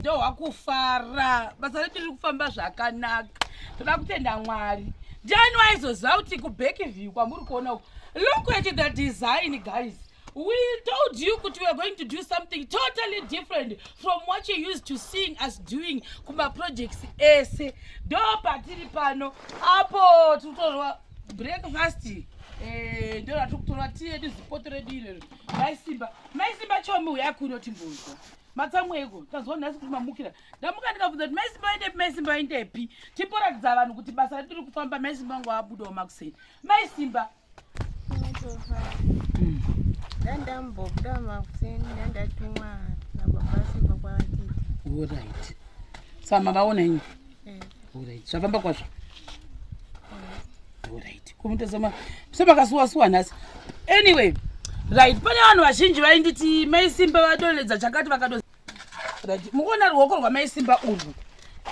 ndohwa kufara basa redu riri kufamba zvakanaka toda kutenda mwari ndiani waizoziva kuti kubekiview kwamuri kuona uku look at the design guys we told you kuti weare going to do something totally different from what you used to seeing us doing kumaprojects ese ndo patiri pano apo tiri kutorwa breakfast eh, ndo ratiri kutorwa tiyedu zipoto redu irero maisimba maisimba chomi uya kuno timbonzwa matsamweko tanzwa nhasi kuti mamukira ndamuka ndikabvunza kuti maisimba vaendepi maisimba vaendepi timboratidza vanhu kuti basa ratiri kufamba maisimba vangu vabudawo makuseni maisimba ndandambobuda makuseni ndandatumwa nababasiba kwaatiti orit sama vaona inyi zvafamba kwazvo orit kumuita semakasuwa suwa nhasi anyway right pane vanhu vazhinji vainditi mai simba vadonedza chakati vakato right mukuona ruoko rwamai simba urwu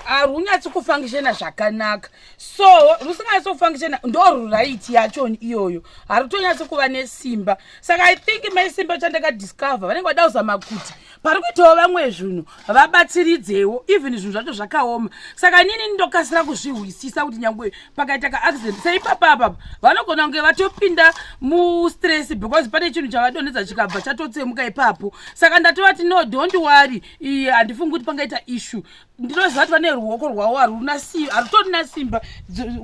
harunyatsi kufangishena zvakanaka so rusinganyatsi kufangishena ndorwu right yachoni iyoyo harutonyatsi kuva nesimba saka i think mai simba chandakadiscover vanenge vada kuzama kuti pari kuitawo vamwe zvinhu vabatsiridzewo even zvinhu zvacho zvakaoma saka inini ndokasira kuzvihwisisa kuti nyangwe pakaita kaaccident seipapa apapa vanogona kunge vatopinda mustress because pane chinhu chavadonhedza chikabva chatotsemuka ipapo saka ndatovati no don't worry iye handifungi kuti pangaita issue ndinoziva kuti vane ruoko rwavo haruna simba harutorina simba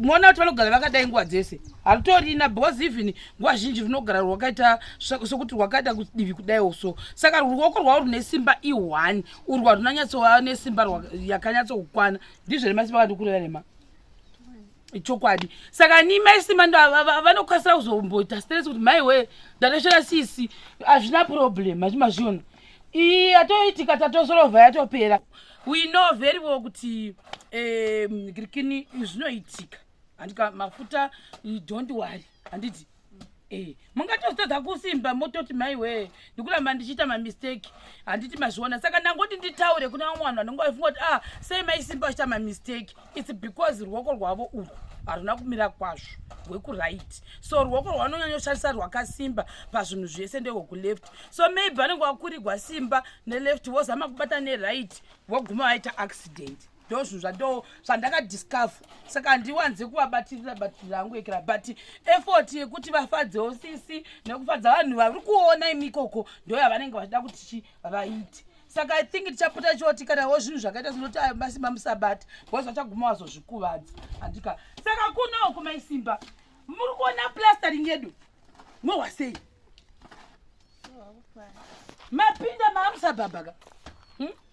moona kuti vanogara vakadai nguva dzese harutorina because even nguva zhinji runogara rwakaita sokuti rwakaita kudivi kudaiwo so saka ruoko rwavo rune simba ihwani urwu harunanyatsova nesimba yakanyatsokukwana ndizvo remasimba kandikurira rema chokwadi saka ni mai simba ndo vanokasira kuzomboita stress kuti mai wee ndatoshora sisi hazvina problem hachi mazviona iyi yatoitika tatosorovha yatopera we know very well kuti um, kirikini zvinoitika handika mafuta don't worry handiti Eh, mungatozotadza kusimba mototi mai wee ndikuramba ndichiita mamistake handiti mazviona saka ndangoti nditaure kuna vamwe vanhu vanenge vafunga kuti ah sei maisimba vachiita mamistake its because ruoko rwavo urwu haruna kumira kwazvo rwekuright so ruoko rwavanonyanyoshandisa rwakasimba pazvinhu zvese ndehwekuleft so maybe vanenge vakurigwa simba neleft vozama kubata neright voguma vaita accident ndozvinhu zvando zvandakadiscover saka handiwanze kuvabatirira batirira angu ekera but effort yekuti vafadzewo sisi nekufadza vanhu vari kuona imikoko ndoyavanenge vachida kuti chi vaite saka i think tichapota choti kanawo zvinhu zvakaita zvinoti ayo masimba musabata bcause vachaguma wazozvikuvadza handika saka kuno kumaisimba muri kuona plastering yedu mwohwa sei mapinda maamusabhabhaka hmm?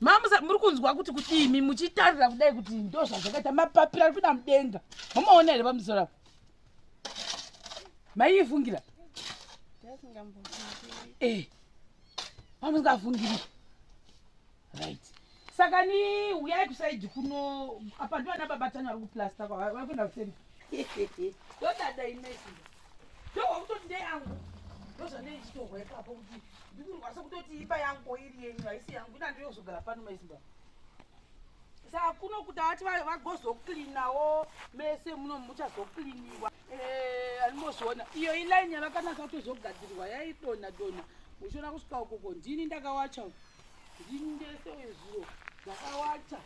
mamusa muri kunzwa kuti kuti imi muchitarira kudai kuti ndo zvazvakaita mapapira ari kuda mudenga mumaona here pamusoro apo maiifungira eh, mamusingafungiri right saka ni uyai kusaidi kuno apa ndivana baba tani vari kuplasta vari kuenda kuseni ndodada inesii ndohwakutoti ndeyangu ndozvanei chitohwa ipapo kuti ndikurwasa kutoti imba yangu iri yenyu haisi yangu ina ndiyozogara pano maizimba saka kuno kuti avati vagozoklinawo mese muno muchazokliniwa eh, animozoona iyo ilaini yavakanaka kutozogadzirwa yaidona dona uchiona kusvika ukoko ndini ndakawacha ndini ndese wezuro ndakawacha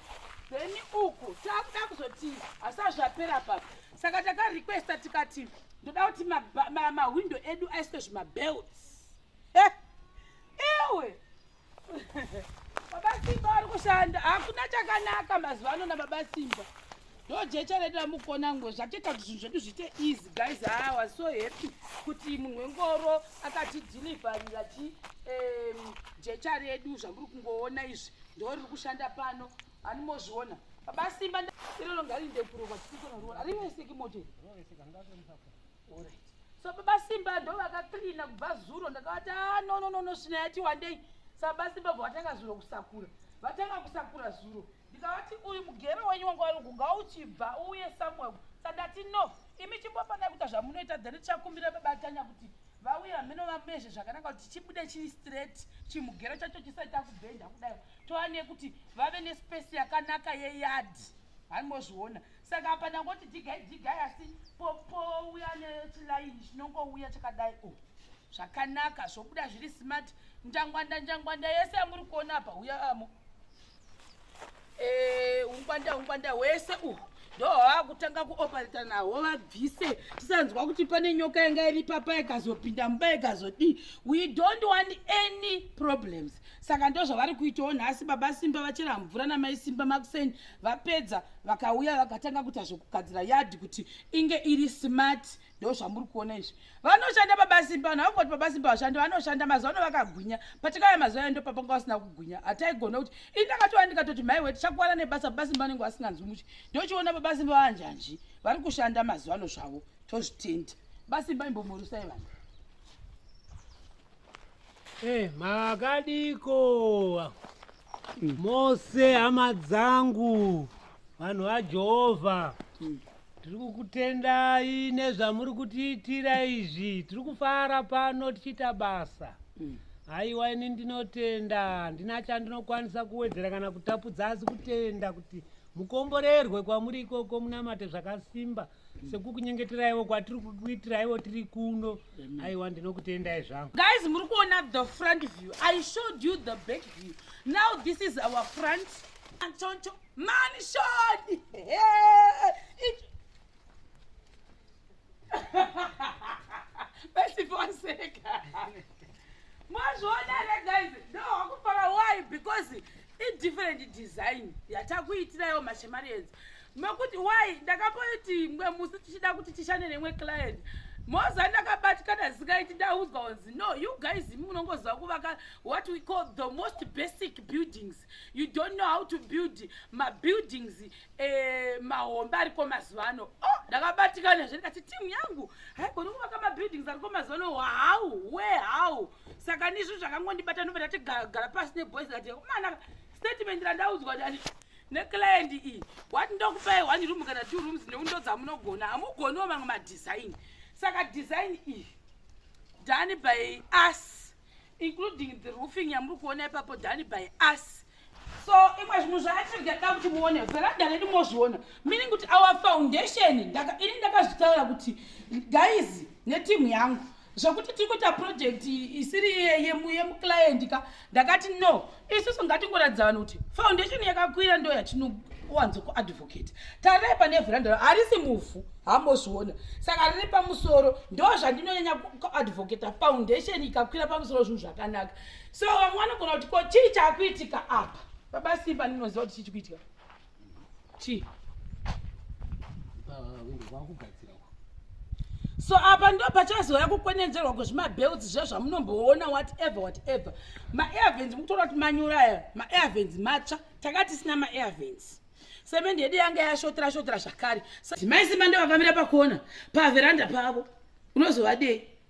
then uku takuda kuzoti asazvapera papa saka takarequesta tikati ndoda kuti mahwindo edu aiswe zvimabelts Ewe. Baba Simba ari kushanda. Hakuna chakanaka mazuva ano na Baba Simba. Ndojecha redu ramukona ngwe zvacheta kuti zvinhu zvedu zviite easy guys. I was so happy kuti munhu wengoro akati deliverira chi um, jecha redu zvamuri kungoona izvi ndo riri kushanda pano animozviona baba simba iroro ngarinde kurova tisikona ruona ariweseki moto so baba simba ndo vakaklina kubva zuro ndakavati a ah, no no no no svina yati wandei sababa simba bva vatanga zuro kusakura vatanga kusakura zuro ndikavati uyu mugero wenyu wanga walugu ngauchibva uye samuel sandati no imi chimbofanira kuita zvamunoita then tichakumbira baba tanya kuti vauye hameno vamezve zvakanaka kuti chibude chiri straight chimugero chacho chisaita kubhenda kudai toane kuti vave nespesi yakanaka yeyadhi haimozviona saka apa ndangoti dhigai dhigai asi popouya nechilaini chinongouya chakadai o oh, zvakanaka zvobuda zviri smart njangwanda njangwanda yese yamuri kuona apa uya amo eh, ungwanda ungwanda hwese uhu ndohwava kutanga kuoperata nahwo vabvise tisanzwa kuti pane nyoka yanga iri papa ikazopinda mumba ikazodii we don't want any problems saka ndozvavari kuitawo nhasi baba simba vachera mvura namai simba makuseni vapedza vakauya vakatanga kuita zvekugadzira yadhi kuti inge iri smart ndo zvamuri kuona izvi vanoshanda pabasimba vanhu vakungoti pabasimba vashandi vanoshanda mazuva ano vakagwinya patikauya mazuva endo papanga vasina kugwinya hataigona kuti ini ndakatova ndikatoti mai we tichakuvana nebasa pabasimba vanenge vasinganzwi muchi ndochiona pabasimba vanjanji vari kushanda mazuva ano zvavo tozvitenda basimba imbomurusai vanhu Eh, makadiko mose hama dzangu vanhu vajehovha tiri kukutendai nezvamuri kutiitira izvi tiri kufara pano tichiita basa haiwa ini ndinotenda handina chandinokwanisa kuwedzera kana kutapudza asi kutenda kuti mukomborerwe kwamuri ikoko munamate zvakasimba sekukunyengeteraiwo kwatiri kukuitiraiwo tiri kuno aiwa ndinokutendai zvangu guys muri kuona the front view i showed you the back view now this is our front anchoncho mansion besifonseka mazviona here guys ndohakufara why because idifferent design yatakuitirayo mashemarians mekuti why ndakamboiti mwe musi tichida kuti tishande nemwe client moza ndakabatikana zikaiti ndaudzwa onzi no you guys imi munongoziva kuvaka what we call the most basic buildings you don't know how to build mabuildings eh, mahombe ariko mazuva ano oh, ndakabatikana zve ndikati timu yangu haigoni kuvaka mabuildings ariko mazuva ano how we how saka ndizvo zvakangondibata ndobva ndatigara pasi neboys ndati mana statement randaudzwa ndani neclient iyi wati ndokupai one room kana two rooms neundo dzamunogona hamugoniwo mamwe madesign saka design iyi done by us including the roofing yamuri kuona ipapo done by us so imwe zvinhu zvaatiri ndada kuti muone veranda redu mozviona meaning kuti our foundation ini ndakazvitaura kuti guys netimu yangu zvekuti tiri kuita project isiri yemuclient ka ndakati no isusu ngatingoratidza vanhu kuti foundation yakakwira ndo yatinowanzo kuadvocate tarai pane veranda harisi muvhu hambozviona saka riri pamusoro ndo zvandinonyanya kuadvocata foundation ikakwira pamusoro zvinhu zvakanaka so vamwe vanogona kuti ko chii chakuitika apa baba simba ndinoziva kuti chii chikuitika chii so apa ndo pachazouya kukwenenzerwa kwezvimabelts zviya zvamunomboona whatever whatever maairvens mukutoona kuti manyura aya maairvens matsva tanga tisina maairvens semendi yedu yanga yashotera shotera zvakare mai simba ndovavamira pakona paveranda pavo unozovadei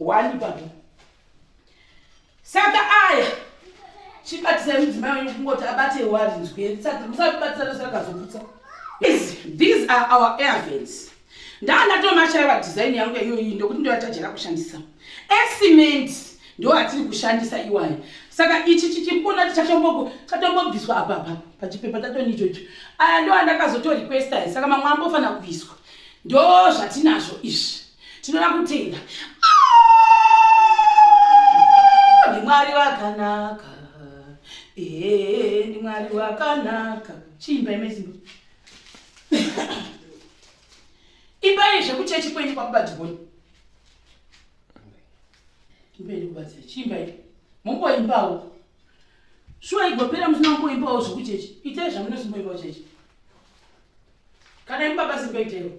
wani baba saka aya chibatisai mudzimai wenyu kungoti abate warinzwe saka musabatisana sakazoputsa these are our airvens ndaandatomashaiva design yangu yaiyoyi ndokuti ndoyatajira kushandisa ecement ndo atiri kushandisa iwayo saka ichi chichikuona chatombobviswa apapa pachipepa tatoni ichocho aya ndo andakazotorequesta saka mamwe ambofanira kubviswa ndo zvatinazvo izvi tinoda kutenda ndimwari vakanaka ndimwari vakanaka chiimba imezimu imbai zvekuchechi kwenyu kwakubatigoni imbaini kubatsira chiimbai momboimbawo shuwa igopera musina kumboimbawo zvekuchechi itai zvamunosimboimbawo chechi kana imbabasimbaitaiwo